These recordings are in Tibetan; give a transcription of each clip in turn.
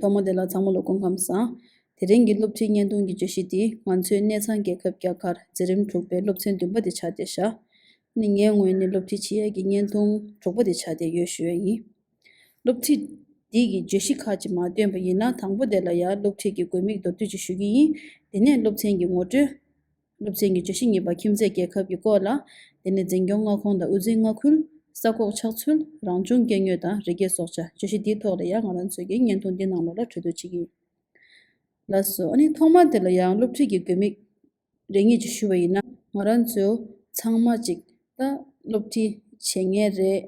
ཐོག་མ་དེ་ལ་ཚང་མ་ལ་དགོངས་ཁམས་བཟང། དེ་རིང་གི་སློབ་ཁྲིད་བརྙན་ཐུང་གི་བརྗོད་གཞི་འདི་ང་ཚོའི་གནས་ཚང་རྒྱལ་ཁབ་རྒྱ་གར་འཛིན་རིམ་དྲུག་པའི་སློབ་ཚན་བདུན་པ་དེ་ཆགས་བསྡད་བཞག། ནི་ངའི་ངོས་ནས་སློབ་ཁྲིད་བྱེད་ཡས་ཀྱི་བརྙན་ཐུང་དྲུག་པ་དེ་ཆགས་བསྡད་ཡོད་ཞུ་ཡས་ཡིན། སློབ་ཁྲིད་འདི་གི་བརྗོད་གཞི་ཁག་ཅིག་མ་བཏོན་པ་ཡིན་ན་དང་པོ་དེ་ལ་ཡང་སློབ་ཁྲིད་ཀྱི་དགོས་དམིགས་མདོར་བསྡུས་ཅིག་ཞུ་གི་ཡིན། དེ་ནས་སློབ་ཚན་གྱི་ངོ་སྤྲོད། སློབ་ཚན་གྱི་བརྗོད་གཞི་གཉིས་པ་ཁྱིམ་མཚེས་རྒྱལ་ཁབ་ཀྱི་སྐོར་ལ། དེ་ནས་འཛིན་སྐྱོང་མངའ་ཁོངས་དང་དབུས་འཛིན་མངའ་ཁུལ། ས་ཁོག་ཆགས་ཚུལ། རང་བྱུང་སྐྱེ་དངོས་དང་རི་སྐྱེས་སྲོག་ཆགས་བརྗོད་གཞི་འདིའི་ཐོག་ལ་ཡང་ང་རང་ཚོས་ཀྱི་བརྙན་ཐུང་འདི་ནང་ལོགས་ལ་འཕྲོས་བསྡུ་བྱེད་ཀྱི་ཡིན། ལགས་སོ། ཨ་ནི་ཐོག་མར་དེ་ལ་ཡང་སློབ་ཁྲིད་ཀྱི་དགོས་དམིགས། རེ་ངེས་ཀྱི་ཞུ་བ་ཡིན་ན་ང་རང་ཚོ་ཚང་མ་ཅིག་ད་སློབ་ཁྲིད་བྱེད་མཁན་རེད།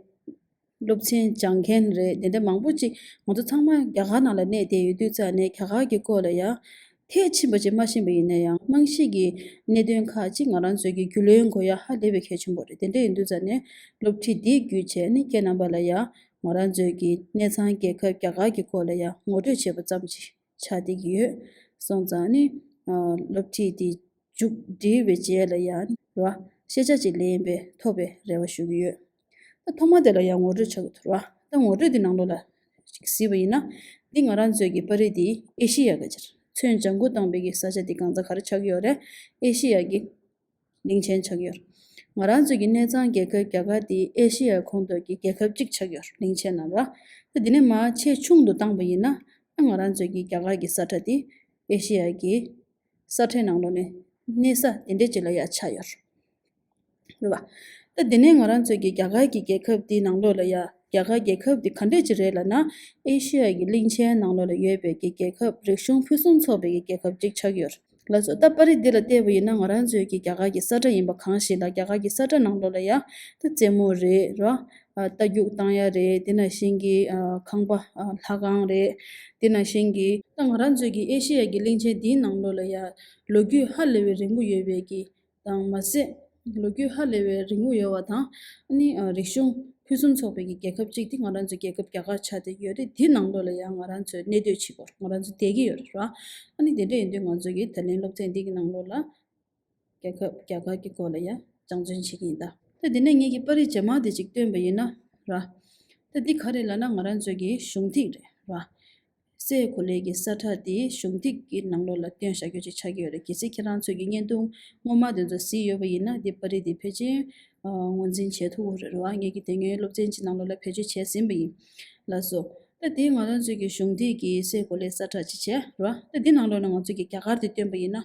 སློབ་ཚན་སྦྱང་མཁན་རེད་དེ་འདྲ་མང་པོ་ཅིག་ང་ཚོ་ཚང་མ་རྒྱ་གར་ནང་ལ་གནས་བསྡད་ཡོད་དུས་ཙང་ནས་རྒྱ་གར་གྱི་སྐོར་ལ་ཡང་ཐད་ཕྱིན་པ་ཅིག་སྨྲ་བཞིན་པ་ཡིན་ན་ཡང་རྨང་གཞིའི་གི་གནད་དོན་ཁག་ཅིག་ང་རང་ཚོའི་གི་རྒྱུས་ལོན་དགོས་ཡ་ཧ་ལས་པའི་གལ་ཆེན་པོ་རེད་དེ་འདྲ་ཡིན་དུས་ཙང་ནས་སློབ་ཁྲིད་འདིའི་རྒྱུ་ཆའི་ནི་རྐྱེན་རྣམ་པ་ལ་ཡང་ང་རང་ཚོའི་གི་གནས་ཚང་རྒྱལ་ཁབ་རྒྱ་གར་གྱི་སྐོར་ལ་ཡང་ངོ་སྤྲོད་བྱས་པ་ཙམ་ཅིག། ཆ་འདི་གི་ཡོད། སོང་ཙང་ནི། སློབ་ཁྲིད་དེ་མཇུག་བསྒྲིལ་བའི་རྗེས་ལ་ཡང་ནི། རེ་བ། ཤེས་བྱ་གཅིག་ལེན་པའི་ཐོབ་པའི་རེ་བ་ཞུ་གི་ཡོད། ད་ཐོག་མ་དེ་ལ་ཡང་ངོ་སྤྲོད་བྱ་གི་འདུག་རེ་བ། ད་ངོ་སྤྲོད་འདི་ནང་ལོགས་ལ། གཟིགས་པ་ཡིན་ན། འདི་ང་རང་ཚོའི་གི་པར་རིས་འདི་ཨེ་ཤེ་ཡ་ག་ཅིར། ཚོན་ལྗང་ཁུ་དང་བའི་གི་ས་ཆ་འདི་གང་ཚ་ག་རེ་ཆགས་ཀྱི་ཡོད་རེད། ཨེ་ཤེ་ཡ་གི། གླིང་ཆེན་ཆགས་ཡོད། ང་རང་ཚོའི་གི་གནས་ཚང་རྒྱལ་ཁབ་རྒྱ་གར་དེ་ཨེ་ཤེ་ཡའི་ཁོངས་གཏོགས་ཀྱི་རྒྱལ་ཁབ་གཅིག་ཆགས་ཡོད་གླིང་ཆེན་ནམ་ར། ཁ་དེ་ནས་མ་ཆེས་ཆུང་དུ་བཏང་བ་ཡིན་ན་ཨ་ང་རང་ཚོའི་གི་རྒྱ་གར་གི་ས་ཁྲ་དེ་ཨེ་ཤེ་ཡའི་གི་ས་ཁྲའི་ནང་ལོགས་ནས་གནས་ས་དེ་འདྲས་ཅིག་ལ་ཡང་ཆགས་ཡོད་རེད་བ། ད་དེ་ནས་ང་རང་ཚོའི་གི་རྒྱ་གར་གི་རྒྱལ་ཁབ་དེའི་ནང་ལོགས་ལ་ཡང་རྒྱ་གར་རྒྱལ་ཁབ་དེ་ག་འདྲས་ཅིག་རེད་ལ་ན་ཨེ་ཤེ་ཡའི་གི་གླིང་ཆེན་ནང་ལོགས་ལ་ཡོད་པའི་གི་རྒྱལ་ཁབ་རིག་གཞུང་ཕུན་སུམ་ཚོགས་པའི་གི་རྒྱལ་ཁབ་གཅིག་ཆགས་ཡོད། ལ་སོགས་ལྟ་པ་རིགས་འདི་ལ་བལྟས་པ་ཡིན་ན་ང་རང་ཚོའི་གི་རྒྱ་གར་གི་ས་བཀྲ་ཡིན་པ་གང་ཞིག་ལ་རྒྱ་གར་གི་ས་བཀྲ་ནང་ལོགས་ལ་ཡང་ཏི་རྩེ་མོ་རེད། རྟ་རྒྱུག་སྟངས་ཡ་རེད་དེ་ན་གཞན་གི་ཁང་པ་ལྷ་ཁང་རེད་དེ་ན་གཞན་གི། ད་ང་རང་ཚོའི་གི་ཨེ་ཤེ་ཡ་གི་གླིང་ཆེན་འདིའི་ནང་ལོགས་ལ་ཡང་ལོ་རྒྱུས་ཧ་ལས་བའི་རིང་པོ་ཡོད་པའི་གི་དང་མ་ཟད་ལོ་རྒྱུས་ཧ་ལས་པའི་རིག་དངོས་ཡོད་བ་དང། རིག་གཞུང་ཕུན་སུམ་ཚོགས་པའི་རྒྱལ་ཁབ་ཅིག་དེ་ང་རང་ཚོའི་རྒྱལ་ཁབ་རྒྱ་གར་ཆགས་ཏེ་ཡོད་རེད་དེའི་ནང་ལོགས་ལ་ཡང་ང་རང་ཚོའི་གནས་སྡོད་བྱེད་པོ་ང་རང་ཚོ་བསྡད་ཀྱི་ཡོད་རེད་རང། དེ་འདྲ་ཡིན་དུས་ང་ཚོ་ཡི་ད་ལན་སློབ་ཚན་འདི་གི་ནང་ལོགས་ལ་རྒྱལ་ཁབ་རྒྱ་གར་གྱི་སྐོར་ལ་ཡང་སྦྱང་བརྩོན་བྱེད་ཀྱི་ཡིན་ད། ད་འདི་ནས་ངེད་ཀྱི་པར་རིས་ཇེ་མང་དེ་ཅིག་བཏོན་པ་ཡིན་ན་རང། ད་འདི་ག་རེད་ལ་ན་ང་རང་ཚོའི་གཞུང་ཐིག་རེད་རང། སའི་གོ་ལའི་གི་སར་ཁྲག་དེ་གཞོམ་སྟེགས་ཀྱི་ནང་ལོགས་ལ་སྟོན་བཞག་རྒྱུ་ཅིག་ཆགས་ཀྱི་ཡོད་རེད་གལ་སྲིད་ཁྱེད་རང་ཚོས་ཀྱི་བརྙན་ཐུང་ངོ་མ་དེ་ཚོ་གཟིགས་ཡོད་པ་ཡིན་ན་འདི་པར་རིས་འདི་ཕལ་ཆེར་ངོས་འཛིན་བྱེད་ཐུབ་བོ་རེད་བ་ངེད་ཀྱི་དེ་སྔའི་སློབ་ཚན་གྱི་ནང་ལོགས་ལ་བེད་སྤྱོད་བྱས་ཟིན་པ་ཡིན། ལགས་སོ། ད་དེ་ང་རང་ཚོས་ཀྱི་གཞོམ་སྟེགས་ཀྱི་སའི་གོ་ལའི་སར་ཁྲག་ཅིག་བྱས་རེད་བ་ད་དེ་ནང་ལོགས་ལ་ང་ཚོས་ཀྱི་རྒྱ་གར་དེ་སྟོན་པ་ཡིན་ན་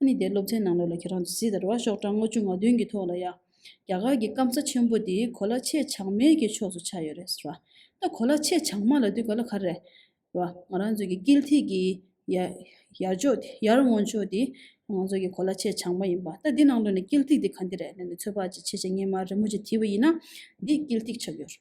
ནི་དེ་སློབ་ཚན་ནང་ལོགས་ལ་ཁྱེད་རང་ཚོས་གཟིགས་དང་རེད་བ་ཤོག་གྲངས་ལྔ་བཅུ་ང་བདུན་གྱི་ཐོག་ལ་ཡང། རྒྱ་གར་གྱི་སྐམ་ས་ཆེན་པོ་འདི་གོ་ལ་ཆེས་བྱང་མའི་གྱི་ཕྱོགས་སུ་ཆགས་ཡོད་རེད་ཟེར་བ། ད་གོ་ལ་ཆེས་བྱང་མ་ལ་དུས་ག་ལ་ག་རེད། རེད་བ། ང་རང་ཚོའི་གྱི་དཀྱིལ་ཐིག་གི་ཡར་ཕྱོགས་དེ་ཡར་སྔོན་ཕྱོགས་དེ་ང་ཚོའི་གྱི་གོ་ལ་ཆེས་བྱང་མ་ཡིན་པ། ད་འདི་ནང་དོན་ནི་དཀྱིལ་ཐིག་དེ་ག་འདི་རེད་ལན་དུ་ཚོད་དཔག་ཅིག་བྱེད་བྱེད་ངས་མ་རེད་མོ་ཅིག་དེ་བས་ཡིན་ན་འདི་དཀྱིལ་ཐིག་ཆགས་ཡོད་རེད།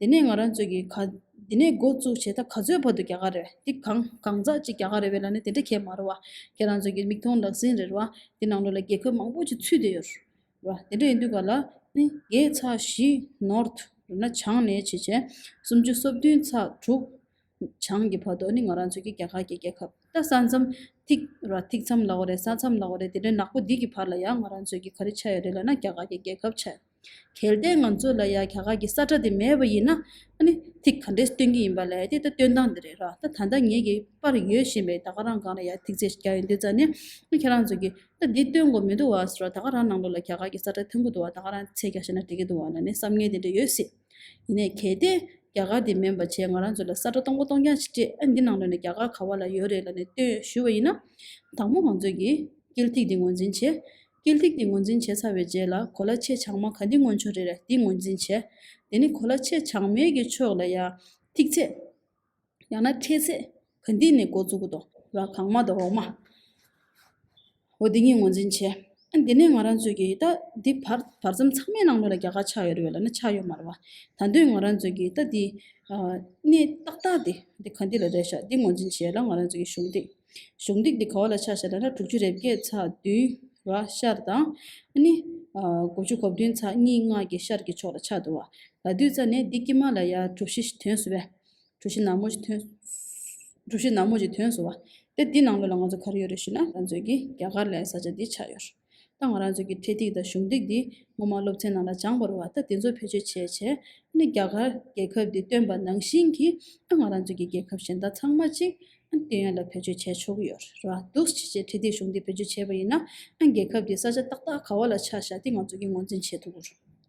དེ་ནས་ང་རང་ཚོས་ཀྱི་ག། དེ་ནས་འགོ་བཙུགས་བྱས་ད་ག་ཚོད་བར་དུ་རྒྱ་གར་རེད་འདི་གང་གང་ཟག་ཅིག་རྒྱ་གར་རེད་བས་ལ་ནི་དེ་འདྲ་ཁས་མ་ར་བ། ཁྱེད་རང་ཚོས་ཀྱི་མིག་མཐོང་ལག་ཟིན་རེད་བ། འདི་ནང་ལོ་ལ་རྒྱལ་ཁབ་མང་པོ་ཅིག་ཚུད་དེ་ཡོད། རེད་བ། དེ་འདྲ་ཡིན་དུས་ག་ལ་ནི་རྒྱའི་ཚགས་བཞི། North། རེད་ན་བྱང་ནས་བྱེད་བྱས། སུམ་ཅུ་སོ་བདུན་ཚགས་དྲུག། བྱང་གི་བར་དུ་ནི་ང་རང་ཚོས་ཀྱི་རྒྱ་གར་གྱི་རྒྱལ་ཁབ། ད་ས་མཚམས། ཐིག། རེད་བ་ཐིག་མཚམས་ལ་བ་རེད་ས་མཚམས་ལ་བ་རེད་དེ་འདྲའི་ནག་པོ་འདི་གི་བར་ལ་ཡང་ང་རང་ཚོས་ཀྱི་ག་རེ་ཆ་ཡོད་རེད་ལ་ན་རྒྱ་གར་གྱི་རྒྱལ་ཁབ་ཆ་ཡོད། གལ་ཏེ་ང་ཚོ་ལ་ཡང་ག་ག་གི་ས་ཁྲ་དེ་མེད་པ་ཡིན་ན། ཐིག་ག་འདྲས་སྟོན་གྱི་ཡིན་པ་ལས་དེ་ད་སྟོན་སྟངས་འདི་རེད་རོགས། ད་ད་ལྟ་ངེད་ཀྱི་པར་ཡོད་བཞིན་པའི་ད་ག་རང་གང་ལ་ཡང་ཐིག་ཚད་ཞིག་རྒྱག་ཡོད་འདུག་ཙང་ནས། ཁྱེད་རང་ཚོ་གིས་ད་འདི་སྟོན་དགོས་མི་འདུག་བ་རོགས་ད་ག་རང་ནང་ལོགས་ལ་ག་ག་གི་ས་ཁྲ་ཐོན་གི་འདུག་བ་ད་ག་རང་ཚད་རྒྱག་ཤེས་ན་འགྲིག་གི་འདུག་བ་ལ་ནས་བསམ་ངན་དེ་འདྲས་ཡོད་སྲིད། ཡིན་ནས་གལ་ཏེ་ག་ག་དེ་མེད་པ་བྱས་ང་རང་ཚོ་ལ་ས་ཁྲ་གཏོང་གོ་གཏོང་རྐྱང་ཞིག་སྤྲད་འདི་ནང་ལོགས་ནས་ག་ག་ག་བ་ལ་ཡོད་རེད་ལ་ནས་སྟོན་ཞུས་བ་ཡིན་ན། དང་པོ་ང་ཚོ་གིས་དཀྱིལ་ཐིག་འདི་ངོས་འཛིན་བྱེད། སྐད་ཐིག་འདི་ངོས་འཛིན་བྱས་ཚར་བའི་རྗེས་ལ་གོ་ལ་ཆེས་བྱང་མ་ག་འདི་སྔོན་བྱུང་རེད་རེད་འདི་ངོས་འཛིན་བྱས། དེ་ནི་གོ་ལ་ཆེས་བྱང་མའི་གི་ཕྱོགས་ལ་ཡང། ཐིག་ཚད། ཡང་ན་ཕྲད་ཚད། ག་འདི་ནས་འགོ་བཙུགས་གོ་དང། ལ་གང་མ་དང་འོག་མ། འོ་འདི་གཉིས་ངོས་འཛིན་བྱས། ཨ་འདི་ནས་ང་རང་ཚོས་གི་རྟ་འདི་བར་བར་མཚམས་ཚང་མའི་ནང་ལོ་ལ་རྒྱ་གར་ཆགས་ཡོད་རེད་བས་ལ་ན་ཆགས་ཡོད་མ་རེད་བ། ད་འདོད་ང་རང་ཚོས་གི་རྟ་འདི། གནས་ཏག་ཏག་འདི་འདི་ག་འདི་ལ་རེད་ཤག་འདི་ངོས་འཛིན་བྱས་ལ་ང་རང་ཚོས་གི་གཞུང་འདི། གཞུང་སྟེགས་འདི་ག་བ་ལ་ཆ་བཞག་ན་ཕྲག་དྲུག་ཅུ་རེ་བརྒྱད་ཚ་བདུན་བ་ཤར་དང། ནི། གོ་བཅུ་གོ་བདུན་ཚ་གཉིས་ལྔ་བརྒྱད་ཤར་གྱི་ཕྱོགས་ལ་ཆ་འདུ་བ། ལ་བདུད་རྩ་ནས་འདི་ཀྱི་མ་ལ་ཡ་གྲུ་བཞི་དོན་བསུ་བས། གྲུ་བཞི་ནག་མོ་བཞི་དོན། གྲུ་བཞི་ནག་མོ་བཞི་དོན་བསུ་བ། དེ་འདི་ནང་ལོ་ལ་ང་ཚོ་གར་ཡོད་རེ་ཞུས་ན་ང་ཚོའི་གི་རྒྱ་གར་ལའི་ས་ཆ་འདི་ཆགས་ཡོད། ཏང་རང་ཚོགས་ཀྱི་འཕྲེད་ཐིག་དང་གཞུང་ཐིག་འདི་ངོ་མ་སློབ་ཚན་ནང་ལ་སྦྱངས་པར་བ་ད་དེ་ཚོ་བེད་སྤྱོད་བྱས་བྱས་ནས་རྒྱ་གར་རྒྱལ་ཁབ་འདི་སྟོན་པ་ནང་བཞིན་གྱི་ཏང་རང་ཚོགས་ཀྱི་རྒྱལ་ཁབ་གཞན་དག་ཚང་མ་གཅིག་སྟོན་ཡོང་ལ་བེད་སྤྱོད་བྱས་ཆོག་གི་ཡོད་རེད་བ་འདུག་ཕྱི་རྒྱལ་འཕྲེད་ཐིག་གཞུང་འདི་བེད་སྤྱོད་བྱས་པ་ཡིན་ན་རྒྱལ་ཁབ་འདིའི་ས་ཆ་ཏག་ཏག་ག་བ་ལ་ཆགས་བཞག་འདི་ང་ཚོ་གིས་ངོས་འཛིན་བྱེད་ཐུབ་རེད།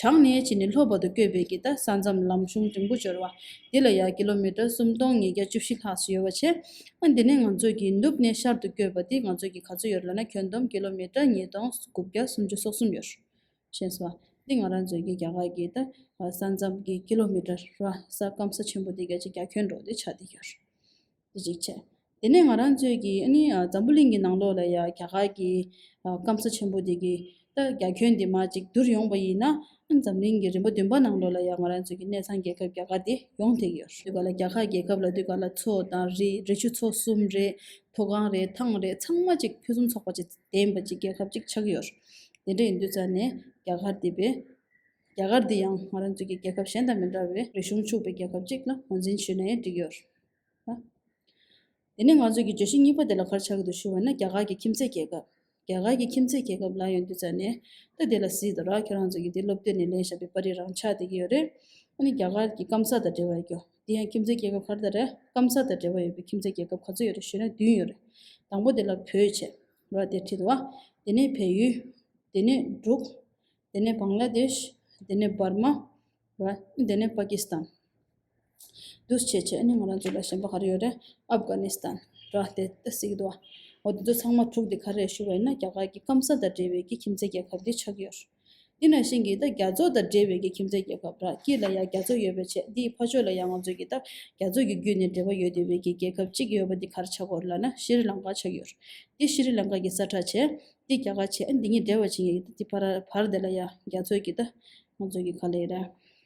བྱང་སྣེའི་ཕྱི་ནས་ལྷོ་བར་དུ་བསྐྱོད་པའི་གྱི་ད་ས་མཚམས་ལམ་གཞུང་འབྲིང་པོ་འབྱོར་བ། འདི་ལ་ཡང་ཀི་ལོ་མི་ཀྲར་སུམ་སྟོང་ཉིས་བརྒྱ་བཅུ་བཞི་ལྷག་ཅིག་ཡོད་པར་བྱས། ཨ་འདི་ནས་ང་ཚོས་གྱི་ནུབ་གནས་ཤར་དུ་བསྐྱོད་པ་འདི་ང་ཚོས་གྱི་ག་ཚོད་ཡོད་རེད་ལབ་ན་ཁྱོན་བསྡོམས་ཀི་ལོ་མི་ཀྲར་ཉིས་སྟོང་དགུ་བརྒྱ་སུམ་ཅུ་སོ་གསུམ་ཡོད། ཞེས་སོ། འདི་ང་རང་ཚོས་གྱི་རྒྱ་གར་གྱི་ད་ས་མཚམས་ཀྱི་ཀི་ལོ་མི་ཀྲར་ར་ས་སྐམ་ས་ཆེན་པོ་འདི་བརྒྱ་ཆའི་བརྒྱ་ཁྱོན་འགྲོ་འདི་ཆགས་འདི་ཡོད། རིག་བྱ། དེ་ནས་ང་རང་ཚོས་ཀྱིས་ནི་འཛམ་བུ་གླིང་གི་ནང་ལོགས་ལ་ཡང་རྒྱ་གར་གྱི་སྐམ་ས་ཆེན་པོ་འདི་གི་ད་རྒྱ་ཁྱོན་འདི་མ་ཅིག་བསྡུར་ཡོང་བ་ཡིན་ན། འཛམ་གླིང་གི་རིམ་པ་བདུན་པ་ནང་ལོགས་ལ་ཡང་ང་རང་ཚོས་ཀྱི་གནས་ཚང་རྒྱལ་ཁབ་རྒྱ་གར་འདི་ཡོངས་ཐེག་ཡོད། དུས་ག་ལ་རྒྱ་གར་རྒྱལ་ཁབ་ལ་དུས་ག་ལ་མཚོ་དང་རི་རི་ཆུ་མཚོ་གསུམ་རེད། མཐོ་སྒང་རེད་ཐང་རེད་ཚང་མ་ཅིག་ཕུན་སུམ་ཚོགས་པ་ཅིག་ལྡན་པ་ཅིག་རྒྱལ་ཁབ་ཅིག་ཆགས་ཡོད། དེ་འདྲ་ཡིན་དུས་ཙཱ་ནས་རྒྱ་གར་འདི་བས། རྒྱ་གར་འདི་ཡང་ང་རང་ཚོས་ཀྱི་རྒྱལ་ཁབ་གཞན་དང་མི་འདྲ་བའི་རིག་གཞུང་ཕྱུག་པའི་རྒྱལ་ཁབ་ཅིག་ལ་ངོས་འཛིན་བྱས་ནས་བསྒྲིགས་ཡོད། དེ་ནས་ང་ཚོས་ཀྱི་བརྗོད་གཞི་གཉིས་པ་དེ་ལ་གར་ཆག་གི་འདུག་ཞུ་བ་ན་རྒྱ་གར་གྱི་ཁྱིམ་མཚེས་རྒྱལ་ཁབ། རྒྱ་གར་གྱི་ཁྱིམ་མཚེས་རྒྱལ་ཁབ་ལ་ཡོང་དུས་ཙཱ་ནས། ད་དེ་ལ་གཟིགས་དང་རག་ཁྱོད་རང་ཚོ་གྱི་དེ་སློབ་དུས་ནས་ལེན་བཞག་པའི་པར་རིས་རང་ཆགས་བསྡད་ཀྱི་ཡོད་རེད། ཨ་ནི་རྒྱ་གར་གྱི་སྐམ་ས་དང་འབྲེལ་བ་ཡོད་རྒྱུ། དེ་ཡང་ཁྱིམ་མཚེས་རྒྱལ་ཁབ་གར་དང་རེད། སྐམ་ས་དང་འབྲེལ་བ་ཡོད་པའི་ཁྱིམ་མཚེས་རྒྱལ་ཁབ་ག་ཚོད་ཡོད་རེད་ཞུས་ན་བདུན་ཡོད་རེད། དང་པོ་དེ་ལ་བོད་བྱས། རག་དེར་ཁྲིད་དོ། དེ་ནས་བལ་ཡུལ། དེ་ནས་འབྲུག། དེ་ནས་བང་ལ་དེཤ། དེ་ནས་འབར་མ། རག། དེ་ནས་པ་ཀི་སི་ཐན། རྡུལ་ཕྱེད་ཕྱེད་ནི་ང་རང་ཚོ་ལ་གཞན་པ་ག་རེ་ཡོད་རེད། ཨབ་གྷ་ནི་སྟན། ར་དེ་ད་སྲིད་འདུག་ཨ། འོ་དེ་ཚོ་ཚང་མ་དྲུག་དེ་ག་རེ་ཞུ་བ་ཡིན་ན་རྒྱ་གར་གྱི་སྐམ་ས་དང་འབྲེལ་བའི་གི་ཁྱིམ་མཚེས་རྒྱལ་ཁབ་དེ་ཆགས་ཀྱི་ཡོད། དེ་ནང་བཞིན་གྱི་ད་རྒྱ་ཚོ་དང་འབྲེལ་བའི་གི་ཁྱིམ་མཚེས་རྒྱལ་ཁབ་ར་སྐྱིད་ལ་ཡང་རྒྱ་ཚོ་ཡོད་པས་ཆད་དེའི་ཕ་ཕྱོགས་ལ་ཡང་ང་ཚོ་གི་ད་རྒྱ་ཚོ་གི་བརྒྱུད་ནས་འབྲེལ་བ་ཡོད་དེ་བའི་གི་རྒྱལ་ཁབ་གཅིག་ཡོད་པ་དེ་གར་ཆགས་སྐོར་ལ་ན་ཤི་རི་ལང་ཀ་ཆགས་ཀྱི་ཡོད། དེ་ཤི་རི་ལང་ཀ་གི་ས་ཁྲ་ཆད། དེ་རྒྱ་གར་ཆད་འདི་གཉིས་འབྲེལ་བ་བྱེད་ངེས་ཀྱི་ད་དེ་བར་དེ་ལ་ཡང་རྒྱ་ཚོ་གི་ད་ང་ཚོ་གི་ག་ལས་ཡོད་རེད།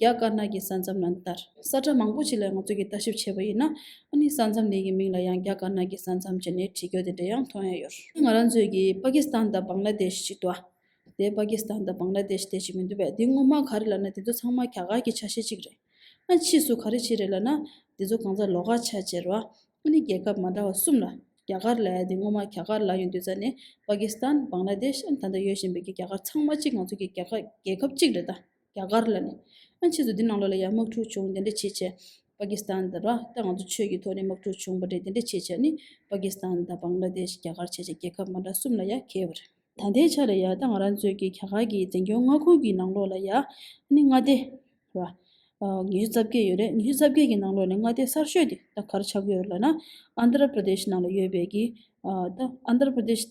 རྒྱ་དཀར་ནག་གི་ས་མཚམས་ལ་འདར་ས་ཁྲ་མང་པོ་ཞིག་ལ་ང་ཚོས་ཀྱིས་ལྟ་ཞིབ་བྱས་པ་ཡིན་ན། ཨ་ནི་ས་མཚམས་དེ་གི་མིང་ལ་ཡང་རྒྱ་དཀར་ནག་གི་ས་མཚམས་ཅེས་ནས་བྲིས་ཀྱོ་དེ་འདྲ་ཡང་མཐོང་ཡ་ཡོད། ང་རང་ཚོས་ཀྱིས་པ་ཀི་སི་ཐན་དང་བང་ལ་དེ་ཤི་ཅིག་འདུག་ཨ། དེ་པ་ཀི་སི་ཐན་དང་བང་ལ་དེ་ཤི་དེ་ཞིག་མི་འདུག་པས་དེ་ངོ་མ་ག་རེ་ལབ་ན་དེ་ཚོ་ཚང་མ་ག་ག་གི་ཆ་ཤས་ཅིག་རེད། ཨ་ཕྱིས་སུ་ག་རེ་ཆེ་རེད་ལབ་ན། དེ་ཚོ་གང་ཟག་ལོག་ཁ་ཆ་ཆེ་རུ་ཨ་ནི་རྒྱལ་ཁབ་མ་འདྲ་བ་གསུམ་ལ་རྒྱ་གར་ལ་ཡ་དེ་ངོ་མ་ག་ག་ལ་ཡོད་འདུག་ས་ནི་པ་ཀི་སི་ཐན་བང་ལ་དེ་ཤ་ཨ་ནི་ད་ལྟ་ཡོད་བཞིན་པའི་གི་རྒྱ་གར་ཚང་མ་གཅིག་ང་ཚོ་ཀྱི་རྒྱལ་ཁབ་གཅིག་རེད་ད། རྒྱ་གར་ལ་ནི། ཨ་མཆིས་སུ་འདི་ནང་ལོགས་ལ་ཡང་དམག་འཁྲུག་བྱུང་དེ་འདྲ་བྱེད་ཆེད། པ་ཀི་སི་ཐན་དང་ར་ཏའི་ང་ཚོ་ཆོས་ཀྱི་ཐོག་ནས་དམག་འཁྲུག་བྱུང་པ་རེད་དེ་འདྲ་བྱེད་ཆེད་ནི། པ་ཀི་སི་ཐན་དང་བང་ལ་དེཤ་རྒྱ་གར་བྱེད་ཆེད་རྒྱལ་ཁབ་མ་འདྲ་གསུམ་ལ་ཡང་གྱེས་པ་རེད། ད་ལྟའི་ཆ་ལ་ཡ་ད་ང་རང་ཚོས་ཀྱི་རྒྱ་གར་གྱི་བཙན་སྐྱོང་མངའ་ཁུལ་གྱི་ནང་ལོགས་ལ་ཡ་ཨ་ནི་མངའ་སྡེ། ར། ཉི་ཤུ་རྩ་བརྒྱད་ཡོད་རེད་ཉི་ཤུ་རྩ་བརྒྱད་ཀྱི་ནང་ལོགས་ནས་མངའ་སྡེ་གསར་ཤོས་དེ་ད་གར་ཆགས་ཡོད་རེད་ལ་ན། ཨནྡ་ར་པར་དེཤ་ནང་ལ་ཡོད་པའི་ཀྱི། ཨནྡ་ར་པར་དེཤ།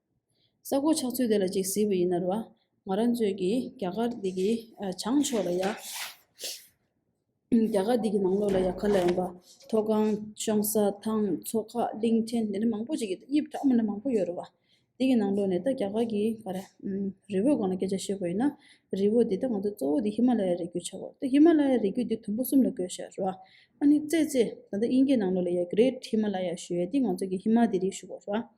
ས་རྐོ་ཆགས་ཚུལ་དེ་ལ་ཅིག་གཟིགས་པ་ཡིན་ནར་བ། ང་རང་ཚོའི་གི་རྒྱ་གར་འདི་གི་བྱང་ཕྱོགས་ལ་ཡ། རྒྱ་གར་འདི་གི་ནང་ལོགས་ལ་ཡ་གར་ལ་ཡོང་པ། མཐོ་སྒང། གཤོང་ས། ཐང། མཚོ་ཁ། གླིང་ཕྲན་འདི་འདྲ་མང་པོ་ཅིག་གི་དབྱིབས་འདྲ་མོ་འདྲ་མང་པོ་ཡོད་རེད་བ། འདི་གི་ནང་ལོགས་ནས་ད་རྒྱ་གར་གི་ག་རེ། རི་བོའི་སྒང་ལ་སྐད་ཆ་བཤད་དགོས་ཡིན་ན། རི་བོ་འདི་ད་ང་ཚོ་གཙོ་བོ་འདི་ཧི་མ་ལ་ཡ་རི་རྒྱུད་ཆགས་དགོས་རེད་ད་ཧི་མ་ལ་ཡ་རི་རྒྱུད་འདི་དུམ་བུ་གསུམ་ལ་བགོས་ཤག་རེད་བ། ཨ་ནི་ཙེ་ཙེ། ད་ལྟ་དབྱིན་སྐད་ནང་ལོགས་ལ་ཡ Great Himalaya ཞུ་ཡ་འདི་ང་ཚོ་གི་ཧི་མ་འདི་རིགས་ཞུ་དགོས་རེད་བ།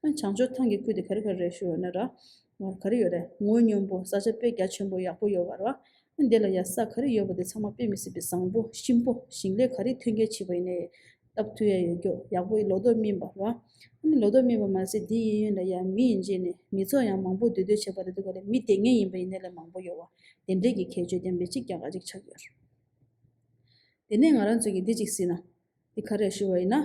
བྱང་ཕྱོགས་ཐང་གི་ཁུལ་དེ་ག་རེ་ག་རེ་རེད་ཤོད་ན་ར་བར་ག་རེ་ཡོད་རེད་ངོ་སྙོམས་པོ་ས་ཆ་དཔེ་རྒྱ་ཆེན་པོ་ཡག་པོ་ཡོད་བ་ར། འདི་ལ་ཡ་ས་ག་རེ་ཡོད་པ་དེ་ཚང་མ་དཔེ་མི་སྲིད་པའི་བཟང་པོ་གཤིན་པོ་ཞིང་ལས་ག་རེ་ཐོན་སྐྱེད་བྱས་པ་ཡིན་ནའི། སྟབས་ཐུ་ཡ་ཡོད་སྐྱོ་ཡག་པོ་ལོ་ཏོག་སྨིན་པ་ར། ལོ་ཏོག་སྨིན་པ་མ་ཟད་དེ་ཡིན་ཡོད་ན་ཡ་མི་ཡིན་རྗེས་ནས་མི་ཚོགས་ཡང་མང་པོ་འདུས་སྡོད་བྱས་པ་རེད་འདུག་ག་རེ་མི་དེ་ངན་ཡིན་པ་ཡིན་ནའི་ལས་མང་པོ་ཡོད་བ་དེ་འདྲས་ཀྱི་ཁྱད་ཆོས་དེ་མི་གཅིག་ཀྱང་ག་གཅིག་ཆགས་ཡོད་རེད། དེ་ནས་ང་རང་ཚོས་ཀྱི་འདི་གཅིག་སྲིད་ན། འདི་ག་རེ་ཤོད་བ་ཡིན་ན།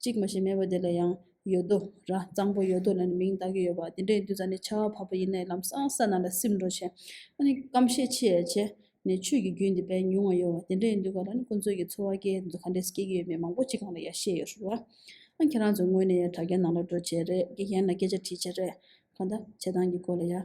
གཅིག་མ་ཞེས་སྨྲས་པ་དེ་ལ་ཡང། ཡོད་དོ། ར། གཙང་པོ་ཡོད་དོ་ལ་ནི་མིང་གདགས་ཀྱི་ཡོད་པ། དེ་འདྲའི་འདུས་རྩ་ནི་ཆར་བ་བབ་པ་ཡི་ནའི་ལམ་སྲང་ས་ན་ལ་སིབ་འགྲོ་བྱེད། ཨ་ནི་སྐམ་ཤས་ཆེ་ཡ་བྱེད། ནས་ཆོས་ཀྱི་རྒྱུན་འདི་པས་ཉུང་བ་ཡོད་བ། དེ་འདྲའི་འདུས་པ་ལ་ནི་ཀུན་རྩོད་ཀྱི་འཚོ་བ་སྐྱེལ་འདུ་ག་འདྲས་སྐྱེལ་གྱི་ཡོད་མེད་མང་པོ་ཅི་གང་ལ་ཡ་ཤས་ཡོད་རུང་བ། ཁྱེད་རང་ཚོས་ངོས་ནས་ཡ་དྲ་རྒྱ་ནང་ལ་འགྲོ་བྱེད་རེད་ཀྱི་གཞན་ལ་སྐད་ཆ་དྲིས་བྱེད་རེད། གང་ལྟ། བྱེད་སྟངས་ཀྱི་སྐོར་ལ་ཡ།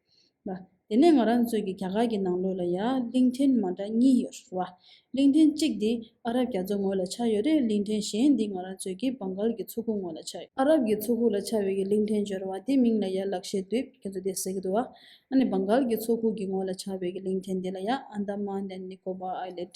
ལ། དེ་ནས་ང་རང་ཚོའི་གི་རྒྱ་གར་གི་ནང་ལོགས་ལ་ཡང་གླིང་ཕྲན་མ་འདྲ་གཉིས་ཡོད་རེད་བ། གླིང་ཕྲན་གཅིག་འདི་ཨ་རབ་རྒྱ་མཚོ་ངོས་ལ་ཆགས་ཡོད་རེད་གླིང་ཕྲན་གཞན་འདི་ང་རང་ཚོའི་གི་བང་གཱལ་གི་མཚོ་ཁུག་ངོས་ལ་ཆགས་ཡོད། ཨ་རབ་གི་མཚོ་ཁུག་ལ་ཆགས་ཡོད་གི་གླིང་ཕྲན་བྱོལ་བ་དེ་མིང་ལ་ཡར་ལག་ཤེས་དུས་ཁྱེད་ཚོ་དེ་ཟེར་གི་འདུག་བ། ཨ་ནི་བང་གཱལ་གི་མཚོ་ཁུག་གི་ངོས་ལ་ཆགས་ཡོད་གི་གླིང་ཕྲན་དེ་ལ་ཡང Andaman and Nicobar Island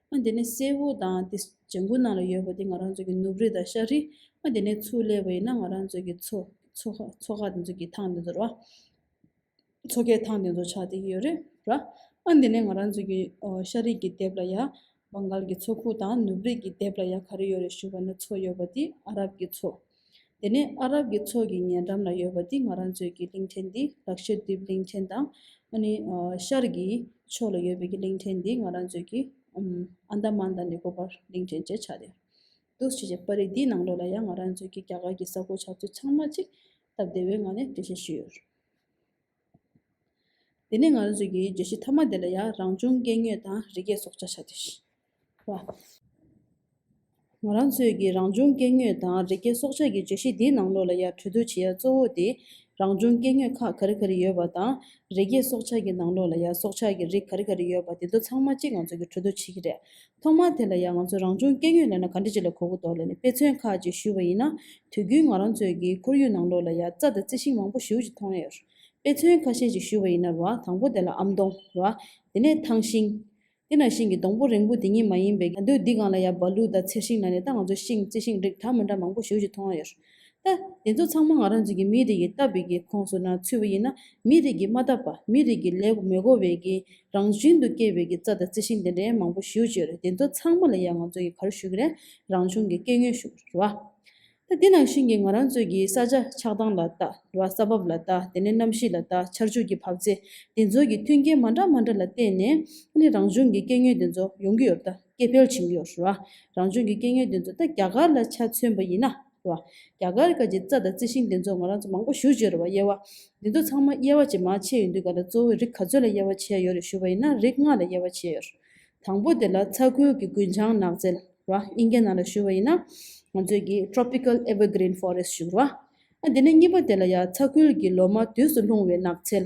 ཨ་དེ་ནས་སེ་བོ་དང་དེ་བྱ་འགུ་ནང་ལ་ཡོད་པ་དེ་ང་རང་ཚོ་གི་ནུབ་རི་དང་ཤར་རི་ཨ་དེ་ནས་ཚུར་སླེབས་པ་ཡིན་ན་ང་རང་ཚོ་གི་ཚོ་ཚོ་ཁག་དེ་ཚོ་གི་ཐང་དེ་ཚོ་ར། ཚོ་ཁའི་ཐང་དེ་ཚོ་ཆགས་བསྡད་ཀྱི་ཡོད་རེད་ར། ཨ་དེ་ནས་ང་རང་ཚོ་གི་ཤར་རི་གི་དེབ་ལ་ཡ། བྷང་གཱལ་གི་ཚོ་ཁུག་དང་ནུབ་རི་གི་དེབ་ལ་ཡ་ག་རེ་ཡོད་རེད་ཞུ་བ་ན་ཚོ་ཡོད་པ་དེ་ཨ་རབ་ཀྱི་ཚོ། དེ་ནས་ཨ་རབ་ཀྱི་ཚོགས་ཀྱི་ཉེ་འགྲམ་ལ་ཡོད་པ་འདི་ང་རང་ཚོའི་ཀྱི་གླིང་ཕྲན་འདི་ལག་ཤེར་ཏིབ་གླིང་ཕྲན་དང། ཨ་ནི་ཤར་ཀྱི་ཕྱོགས་ལ་ཡོད་པའི་ཀྱི་གླིང་ཕྲན་འདི་ང་རང་ཚོའི་ཀྱི་ཨན་དཱ་མཱན་དང་ནི་ཀོ་པར་གླིང་ཕྲན་ཅེས་བྱ་སྟེ། འདུག་བྱེད་ཀྱི་པར་རིས་འདིའི་ནང་ལོགས་ལ་ཡང་ང་རང་ཚོའི་ཀྱི་རྒྱ་གར་གྱི་ས་ཁོ་བྱ་ཚུལ་ཚང་མ་ཅིག་སྟབས་བདེ་བའི་ངང་ནས་འགྲེལ་བཤད་ཞུས་ཡོད། དེ་ནས་ང་ཚོས་ཀྱི་བརྗོད་གཞི་ཐ་མ་དེ་ལ་ཡང་རང་བྱུང་སྐྱེ་དངོས་དང་རི་སྐྱེས་སྲོག་ཆགས་ཆགས་ཚུལ་ཞེས་པ། ང་རང་ཚོས་ཀྱི་རང་བྱུང་སྐྱེ་དངོས་དང་རི་སྐྱེས་སྲོག་ཆགས་ཀྱི་བརྗོད་གཞི་འདིའི་ནང་ལོགས་ལ་ཡང་གྲོས་བསྡུར་བྱེད་ཡ་གཙོ་བོ་དེ་རང་བྱུང་སྐྱེ་དངོས་ཁག་ག་རི་ག་རི་ཡོད་པ་དང་རི་སྐྱེས་སྲོག་ཆགས་ཀྱི་ནང་ལོགས་ལ་ཡང་སྲོག་ཆགས་ཀྱི་རིགས་ག་རི་ག་རི་ཡོད་པ་དེ་ཚོ་ཚང་མ་གཅིག་ང་ཚོས་ཀྱི་གྲོས་བསྡུར་བྱེད་ཀྱི་རེད་ཐོག་མར་དེ་ལ་ཡང་ང་ཚོས་རང་བྱུང་སྐྱེ་དངོས་ལ་ན་ག་འདྲ་ཅིག་ལ་གོ་གི་འདོག་ལ་ནི་དཔེ་མཚོན་ཁག་ཅིག་ཞུས་པ་ཡིན་ན། དུས་རྒྱུན་ང་རང་ཚོའི་གི་ཁོར་ཡུག་ནང་ལོགས་ལ་ཡང་རྩྭ་དང་རྩི་ཤིང་མང་པོ་ཞིའུ་ཅིག་མཐོང་ཡོད། དཔེ་མཚོན་ཁ་ཤས་ཅིག་ཞུས་པ་ཡིན་ན་རོ་ཨ་དང་པོ་དེ་ལ་ཨམ་མདོང་རོ་ཨ། དེ་ནས་ཐང་ཤིང། དེ་ན་ཤིང་གི་སྡོང་པོ་རེང་བུ་དེ་ཉིད་མ་ཡིན་པའི་གྱ་འདོད་འདི་གང་ལ་ཡང་བ་ལུ་དང་མཚེར་ཤིང་ལ་ནི་ད་ང་ཚོ་ཤིང་རྩི་ཤིང་རིགས་གྲངས་མི་འདྲ་མང་པོ་ཞིའུ་ཅིག་མཐོང་ཡོད། ལྟ། དེ་ཚོ་ཚང་མ་ང་རང་ཚོ་གི་མིའི་རིགས་ཀྱི་ལྟ་བའི་གི་ཁོངས་སུ་ནང་ཚུད་པ་ཡིན་ན་མིའི་རིགས་ཀྱི་མ་ལྟ་བ་མིའི་རིགས་ཀྱི་ལས་མི་གོ་བའི་གི་རང་བཞིན་དུ་སྐྱེས་པའི་གི་རྩ་དང་རྩི་ཤིང་དེ་འདྲའི་མང་པོ་ཞིའུ་བཅོས་རེད་དེ་ཚོ་ཚང་མ་ལ་ཡང་ང་ཚོ་གི་གར་ཞུ་གི་རེད་རང་བྱུང་གི་སྐྱེ་དངོས་ཞུ་གི་རེད་བ། ལྟ། དེ་ནང་བཞིན་གི་ང་རང་ཚོ་གི་ས་ཆ་ཆགས་སྟངས་ལ་ལྟ་རེད་བ་ས་བབ་ལ་ལྟ་དེ་ནས་གནམ་གཤིས་ལ་ལྟ་ཆར་ཆུ་གི་བབས་ཚེ་དེ་ཚོ་གི་མཐུན་རྐྱེན་མ་འདྲ་མ་འདྲ་ལ་བལྟས་ནས་ནི་རང་བྱུང་གི་སྐྱེ་དངོས་དེ་ཚོ་ཡོང་གི་ཡོད་བ། སྐྱེད་འཕེལ་བྱུང་ཡོད། རང་བྱུང་གི་སྐྱེ་དངོས་དེ་ཚོ་ད་རྒྱ་གར་ལ་ཆ་མཚོན་པ་ཡིན་ན། རྒྱ་གར་གྱི་རྩྭ་དང་རྩི་ཤིང་དེ་ཚོ་ང་རང་ཚོ་མང་པོ་ཞུ་བྱས་རེད་བ་དབྱེ་བ། འདི་ཚོ་ཚང་མ་དབྱེ་བ་ཇེ་མང་ཆེ་ཡོད་འདུག་ག་ལ་གཙོ་བོས་རིགས་ག་ཚོད་ལ་དབྱེ་བ་ཕྱེ་ཡོད་རེད་ཞུ་བ་ཡིན་ན་རིགས་ལྔ་ལ་དབྱེ་བ་ཕྱེ་ཡོད། དང་པོ་དེ་ལ་ཚ་ཁུལ་གྱི་རྒུན་ཆང་ནགས་ཚལ། དབྱིན་སྐད་ནང་ལ་ཞུ་བ་ཡིན་ན། ང་ཚོས་ཀྱི Tropical Evergreen Forest ཞུ། འདི་ནས་གཉིས་པ་དེ་ལ་ཡང་ཚ་ཁུལ་གྱི་ལོ་མ་དུས་སུ་ལྷུང་བའི་ནགས་ཚལ།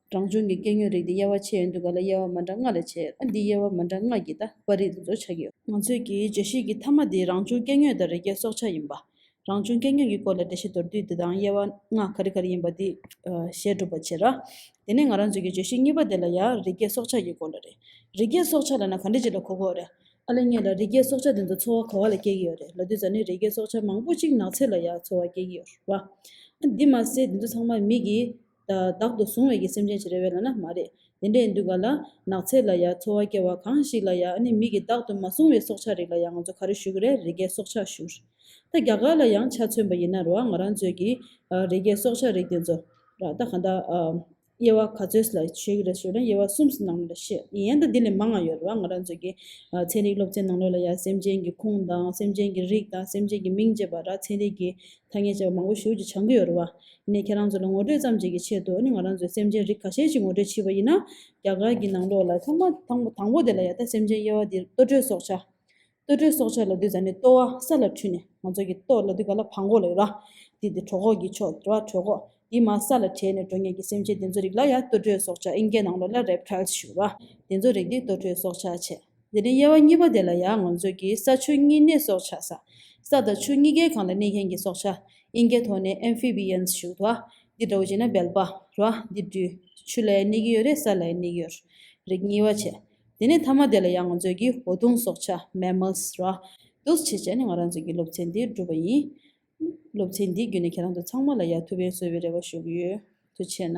རང་བྱུང་གི་སྐྱེ་དངོས་རིགས་དེ་དབྱེ་བ་ཕྱེ་ཡོད་འདུག་ག་ལ་དབྱེ་བ་མ་འདྲ་ལྔ་ལས་བྱས་ཡོད་ན་འདི་དབྱེ་བ་མ་འདྲ་ལྔ་གྱི་ད་པར་རིགས་དེ་ཚོ་ཆགས་ཀྱི་ཡོད། ང་ཚོས་ཀྱི་བརྗོད་གཞི་གྱི་མཐའ་མ་འདི་རང་བྱུང་སྐྱེ་དངོས་དང་རི་སྐྱེས་སྲོག་ཆགས་ཡིན་པ། རང་བྱུང་སྐྱེ་དངོས་ཀྱི་སྐོར་ལ་འགྲེལ་བཤད་མདོར་བསྡུས་འདི་དང་དབྱེ་བ་ལྔ་ག་རེ་ག་རེ་ཡིན་པ་འདི་ཞལ་སྒྲུབ་པར་བྱེད། དེ་ནས་ང་རང་ཚོས་ཀྱི་བརྗོད་གཞི་གཉིས་པ་དེ་ལ་ཡང་རི་སྐྱེས་སྲོག་ཆགས་ཀྱི་སྐོར་ལ་རེད། རི་སྐྱེས་སྲོག་ཆགས་ལ་ན་ག་འདྲི་གཅིག་ལ་གོ་གོ་རེད། ཨ་ལེ་ངེད་ལ་རི་སྐྱེས་སྲོག་ཆགས་དེ་ཚོ་འཚོ་བ་ག་བ་ལ་སྐྱེལ་གྱི་ཡོད་རེད་ལ་དུས་ཚོད་ནི་རི་སྐྱེས་སྲོག་ཆགས་མང་པོ་གཅིག་ནགས་ཚལ་ལ་ཡང་འཚོ་བ་སྐྱེལ་གྱི་ཡོད་རེད། འདི་མ་ཟད་དེ་ཚོ་ཚང་མ་མིག་གིས། བདག་ཏུ་བཟུང་བའི་གི་སེམས་ཅན་ཞིག་རེད་བས་ལ་ན་མ་རེད། དེ་འདྲའི་འདུལ་བ་ལ། ནགས་ཚལ་ལ་ཡ་འཚོ་བ་སྐྱེལ་བ་གང་ཞིག་ལ་ཡ་ནི་མིག་གིས་བདག་ཏུ་མ་བཟུང་བའི་སྲོག་ཆགས་རིགས་ལ་ཡ་ང་ཚོ་ག་རེ་ཞུ་གི་རེད་རི་རྒྱལ་སྲོག་ཆགས་ཞུ། ད་རྒྱ་གར་ལ་ཡང་ཆ་མཚོན་པ་ཡིན་ན་རོ་ཨ་ང་རང་ཚོའི་གི། རི་རྒྱལ་སྲོག་ཆགས་རིགས་དེ་ཚོ། ར་ད་ག་འདྲ། དབྱེ་བ་ག་ཚོད་ལ་ཞུ་གི་རེད་ཞུ་ན་དབྱེ་བ་གསུམ་གྱི་ནང་ལོ་ལ་ཤི། ཡན་ད་འདི་ལས་མང་ང་ཡོད་རོ་ཨ་ང་རང་ཚོའི་གི། ཚན་རིག་སློབ་ཚན་ནང་ལོ་ལ་ཡ་སེམས་ཅན་གྱི་ཁུངས་དང་སེམས་ཅན་གྱི་རིགས་དང་སེམས་ཅན་གྱི་མིང་བཅས་པ་ར་ཚན་རིག་གི་ཐ་སྙད་བཅས་པ་མང་པོ་ཞུ་ཅི་བྱང་གི་ཡོད་རོ་ཨ། ནས་ཁྱེད་རང་ཚོ་ལ་ངོ་སྤྲོད་ཙམ་བྱེད་ཀྱི་ཆེད་དུ་ནི་ང་རང་ཚོའི་སེམས་ཅན་རིགས་ཁ་ཤས་ཀྱི་ངོ་སྤྲོད་བྱིས་པ་ཡིན་ན། རྒྱ་གར་གྱི་ནང་ལོགས་ལ་ཚང་མ་དང་དང་པོ་དེ་ལ་ཡ་ད་སེམས་ཅན་དབྱེ་བ་འདིར་ལྟོ་སྤྲོད་སྲོག་ཆགས། ལྟོ་སྤྲོད་སྲོག་ཆགས་ལ་བསྡུས་ཙང་ནི་ལྟོ་བ་ས་ལ་འཁྲུད་ནས་ང་ཚོ་གི་ལྟོ་ལ་བསྡུས་ག་ལ་བྷ་མགོ་ལ་ཡོད་ར། དེ་དེ་གྲོ་ཁོག་གི་ཕྱོགས་དེ་བ་གྲོད་ཁོག་དེ་མ་ས་ལ་བྲེས་ནས་འགྲོ་ངེས་ཀྱི་སེམས་ཅན་དེ་ཚོ་རིགས་ལ་ཡ་ལྟོ་སྤྲོད་སྲོག་ཆགས་ཨིན་སྐད་ནང་ལོགས་ལ Reptiles ཞུ་ར། དེ་ཚོ་རིགས་དེ་ལྟོ་སྤྲོད་སྲོག་ཆགས་བྱེད། དེ་རིང་དབྱེ་བ་གཉིས་པ་དེ་ལ་ཡང་ང་ཚོས་ཀྱི་ས་ཆུ་གཉིས་གནས་སྲོག་ཆགས་ས། ས་དང་ཆུ་གཉིས་ཀའི་གང་ལ་གནས་མཁན་གྱི་སྲོག་ཆགས། དབྱིན་སྐད་ཐོག་ནས Amphibians ཞུགས་ཐོ། འདི་འདྲ་བོ་བྱས་ན་བལ་པ། རོ། འདི་འདྲུ། ཆུ་ལའི་སྣེ་གི་ཡོད་རེད་ས་ལའི་སྣེ་གི་ཡོད། རིགས་གཉིས་བ་བྱས། དེ་ནས་མཐའ་མ་དེ་ལ་ཡང་ང་ཚོས་ཀྱི་འོ་དུང་སྲོག་ཆགས Mammals རོ། འདུག་བྱས་བྱས་ནས་ང་རང་ཚོས་ཀྱི་སློབ་ཚན་འདི་བསྒྲུབས་པ་ཡིན། སློབ་ཚན་འདི་བརྒྱུད་ནས་ཁྱེད་རང་ཚོ་ཚང་མ་ལ་ཡ་ཐུ་བེན་བཟོ་བའི་རེ་བ་ཞུ་གི་ཡོད། དུ་བྱས་ན།